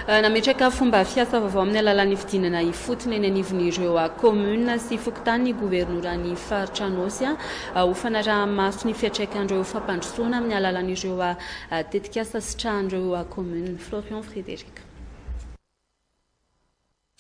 Nametraka fomba fiasa vaovao amin'ny alalan'ny fidinana ifotony eny anivon'ireo kaominina sy fokontany ny governoran'ny faritra Anôsy ho fanaraha-maso ny fiantraikan'ireo fampandrosoana amin'ny alalan'ireo tetikasa sitrahan'ireo kaominina. Florian Frédéric.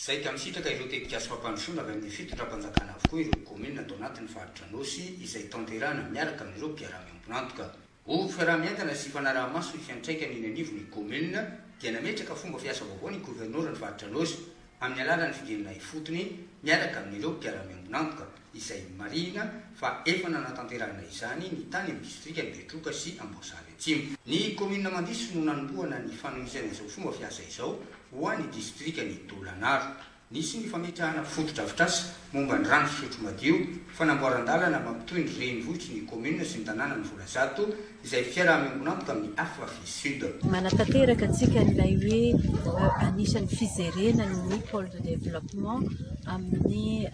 Izay ka misitraka ireo tetikasa fampandrosoana avy amin'ny fitondram-panjakana avokoa ireo kaominina tao anatin'ny faritra Anôsy izay tanterahana miaraka amin'ireo mpiara-miombon'antoka. Ho fiaraha-mientana sy fanaraha-maso ny fiantraikany eny anivon'ny kaominina dia nametraka fomba fiasa vaovao ny governoran'ny faritra Anôsy amin'ny alalan'ny figenona ifotony miaraka amin'ireo mpiara-miombon'antoka. izay marihina fa efa nanatanterahana izany ny tany amin'ny distrika Betroka sy Amboasary Atsimo. Ny kaominina Mandiso no nanombohana ny fanohizana izao fomba fiasa izao ho an'ny distrikan'i Dolanaro. Nisy ny fametrahana fotodrafitrasa momba ny rano fisotro madio, fanamboaran-dalana mampitohy ny renivohitry ny kaominina sy ny tanàna ny vola zato, izay fiaraha-miombon'antoka amin'ny Afrafy Sud. Manatanteraka antsika an'ilay hoe anisan'ny fijerena ny pole de développement amin'ny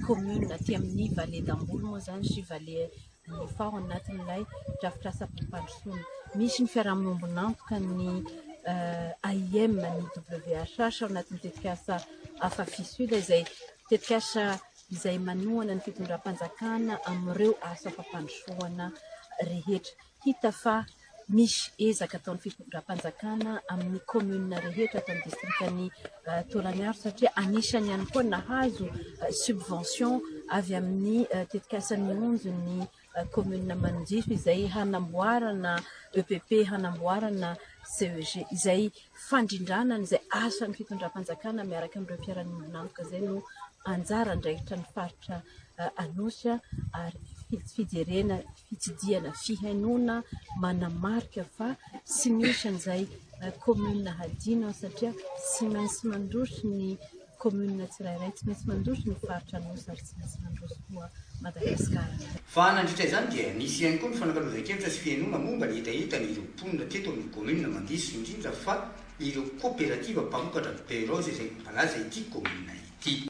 commune aty amin'ny vallée d'Amboly moa izany sy vallée Anifà ao anatin'ilay drafitrasam-pampandrosoana. Misy ny fiaraha-miombon'antoka ny AIM, ny WHH ao anatin'ny tetikasa Afrafy Sud izay Tetikasa izay manohana ny fitondram-panjakana amin'ireo asa fampandrosoana rehetra. Hita fa misy ezaka ataon'ny fitondram-panjakana amin'ny kaominina rehetra ato amin'ny distrikan'i Tolagnaro satria anisany ihany koa nahazo subvention avy amin'ny tetikasan'ny Onjo ny Kaominina Manondriana izay hanamboarana EPP, hanamboarana CEG izay fandrindrana an'izay asan'ny fitondram-panjakana miaraka amin'ireo mpiara-miombon'antoka izay no anjara andraikitra ny faritra Anosy ary fijerena fitsidihana fihainoana manamarika fa tsy misy an'izay kaominina hadino satria tsy maintsy mandroso ny Kaominina tsirairay tsy maintsy mandroso ny faritra Anosy ary tsy maintsy mandroso koa Madagasikara. Fa nandritra izany dia nisy ihany koa ny fanakalozan-kevitra sy fihenoana momba ny hetahetany ireo mponina teto amin'ny kaominina Mandiso indrindra fa ireo koperativa mpamokatra beurre rose izay mampalaza ity kaominina ity.